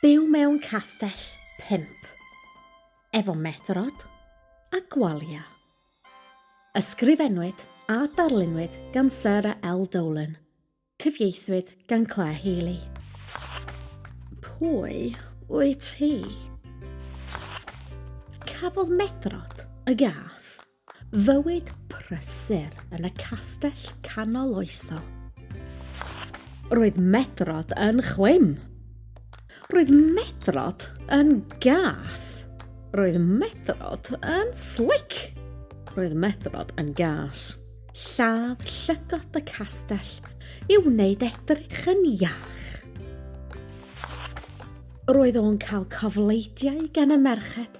Byw mewn castell pimp, efo methrod a gwalia. Ysgrifennwyd a darlunwyd gan Sarah L. Dolan. Cyfieithwyd gan Clare Healy. Pwy wyt ti? Cafodd Medrod y gath fywyd prysur yn y castell canoloesol. Roedd Medrod yn chwim. Roedd Medrod yn gath. Roedd Medrod yn slic. Roedd Medrod yn gas. Lladd llygod y castell i wneud edrych yn iach. Roedd o'n cael cofleidiau gan y merched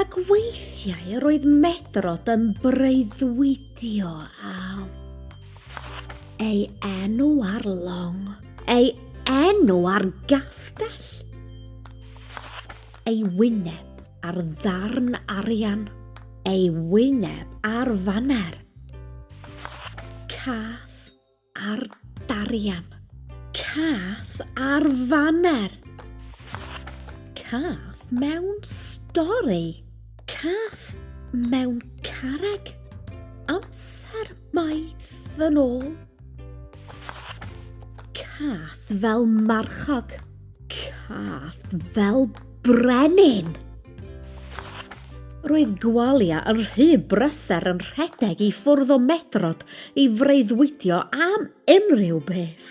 Ac weithiau roedd Medrod yn breuddwydio am ei enw ar long, ei enw ar gastell, ei wyneb ar ddarn arian, ei wyneb ar faner, cath, Ar darian. Cath ar faner. Cath mewn stori. Cath mewn carreg. Amser maith yn ôl. Cath fel marchog. Cath fel brenin! Roedd Gwalia yn rhy brysur yn rhedeg i ffwrdd o Medrod i freuddwydio am unrhyw beth.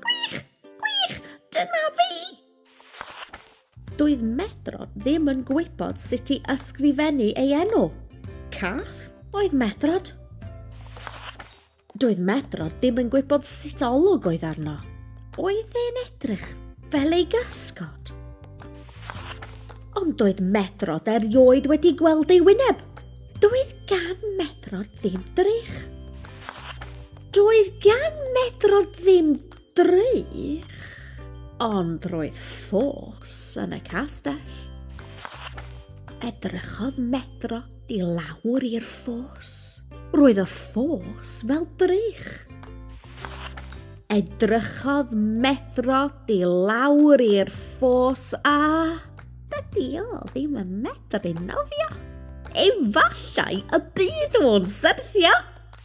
Gwych! Gwych! Dyna fi! Doedd Medrod ddim yn gwybod sut i ysgrifennu ei enw. Cath oedd Medrod. Doedd Medro ddim yn gwybod sut olwg oedd arno. Oedd e'n edrych fel ei gasgod. Ond doedd Medrod erioed wedi gweld ei wyneb. Doedd gan Medrod ddim drych. Doedd gan Medrod ddim Drych, ond roedd ffos yn y castell. Edrychodd Medro i lawr i'r ffos. Roedd y ffos fel drych. Edrychodd Medro i lawr i'r ffos a... Dydy o ddim yn medru nofio. Efallai y bydd o'n syrthio.